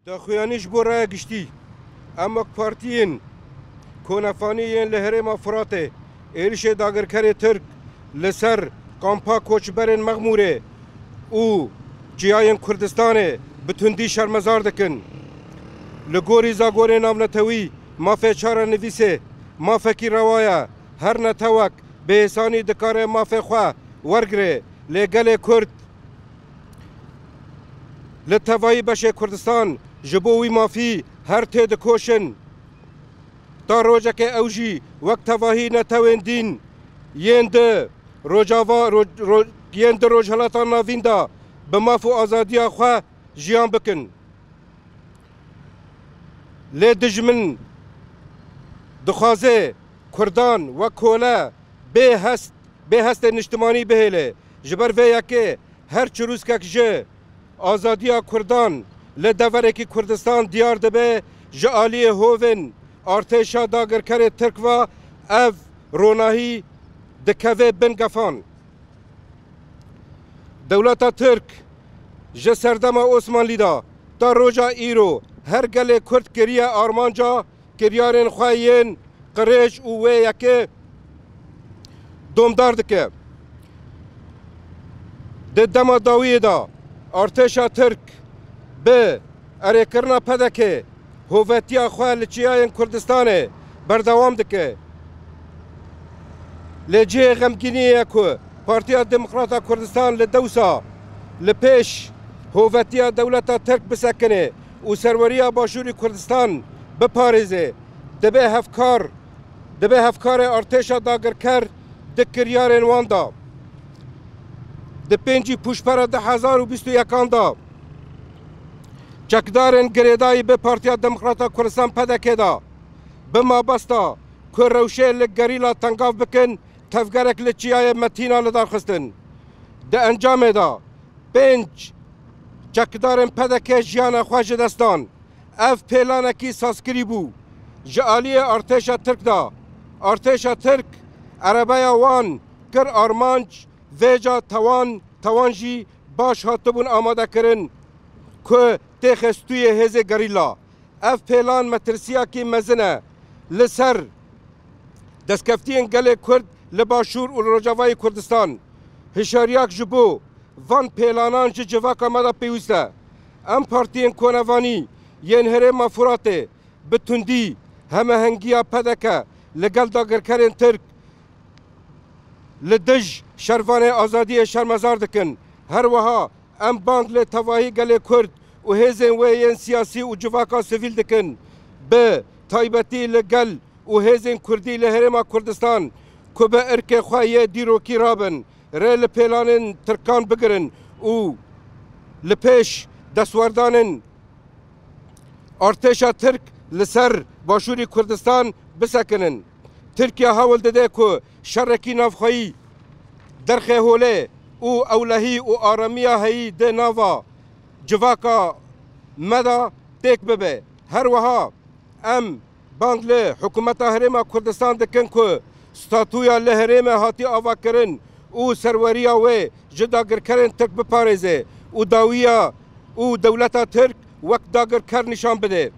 Daxuyanî ji bo raya giştî, Em wek partiyên konefanî yên li herêma Firatê êrişê dagirkerê Tirk li ser kampa koçberên Mexmûrê û çiyayên Kurdistanê bi tundî şermezar dikin. Li gorî zagorê navnetewî mafê çarenivîsê mafekî rewa ye. Her netewek bêhêsanî dikare mafê xwe wergirê lê gelê Kurd, Li tevayî beşê Kurdistan ji bo wî mafî her tê dikoşin. Ta rojekê ew jî wek tevahî netewên dîn yên di Rojava yên di Rojhilata Navîn de bi maf û azadiya xwe jiyan bikin. Lê dijmin dixwaze Kurdan wek kole bê hest bê hestên niştimanî bihêle Ji ber vê yekê her çirûskek ji azadiya Kurdan li deverekî Kurdistan diyar dibe ji aliyê hovên artêşa dagirkerê Tirk ve ev ronahî dikeve bin gefan. Dewleta Tirk ji serdema Osmanlî de ta roja îro her gelê Kurd kiriye armanca Kevyarên xwe yên qirêj û wê yekê domdar dike. Di dema dawiyê de artêşa Tirk bi erêkirina PDK'ê hovetiya xwe li çiyayên Kurdistanê berdewam dike. Lê cihê xemgîniyê ye ku Partiya Demokrata Kurdistan li dewsa li pêş hovetiya dewleta Tirk bisekinê. û serweriya Başûrê Kurdistan biparêze, dibe hevkar dibe hevkarê artêşa dagirker di kiryarên wan de. Di pêncî pûşbera du hezar û bîst û yekan de çekdarên girêdayî bi Partiya Demokrata Kurdistan PDK'ê de bi mabesta ku rewşê li gerîla tengav bikin tevgerek li Çiyayê Metîna lidarxistin. Di encamê de pênc Çekdarên pdk jiyana xwe ji dest dan. Ev pêlanekî sazkirî bû ji aliyê artêşa Tirk de. Artêşa Tirk erebeya wan kir armanc vêca tawan tawan jî baş hatibûn amadekirin ku têxe stûyê hêzê gerîla. Ev pêlan metirsiyakî mezin e li ser destkeftiyên gelê Kurd li Başûr û li Rojavayê Kurdistan. Hişyariyak ji bo. Van pêlanan ji civaka me de pêwîst e. Em partiyên konevanî yên herêma Furatê bi tundî hemehengiya pdk li gel dagirkerên Tirk li dij şervanê azadiyê şermezar dikin. Her wiha em bang lê tevahî gelê Kurd û hêzên wê yên siyasî û civaka sivîl dikin bi taybetî li gel û hêzên Kurdî li herêma Kurdistan ku bi irkê xwe yê dîrokî rabin Rê li pêlanên Tirkan bigirin û li pêş destwerdanên artêşa Tirk li ser Başûrî Kurdistan bisekinin. Tirkiye hewl dide ku şerekî navxweyî derxê holê û ewlehî û aramiya heyî di nava civaka me de têk bibe. Her wiha em Bang li Hikûmeta Herêma Kurdistan dikin ku statuya li herêmê hatî avakirin û serweriya wê ji dagirkerên Tirk biparêze û dawiya û dewleta Tirk wek dagirker nîşan bide.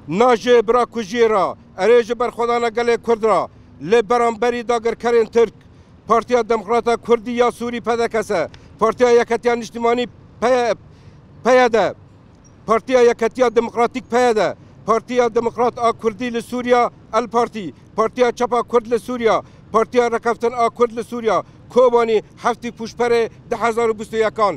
Na ji birakujiyê re erê ji berxwedana gelê Kurd re li beramberî dagirkerên Tirk Partiya Demokrata Kurdî ya Sûrî-PDKS, Partiya Yeketiya Niştimanî-PYD, Partiya Yeketiya Demokratîk, PYD, Partiya Demokrat a Kurdî li Sûriya, El Partî, Partiya Çapa Kurd li Sûriya, Partiya Rekeftin a Kurd li Sûriya, Kobanî, heftî pûşberê du hezar û bîst û yek an.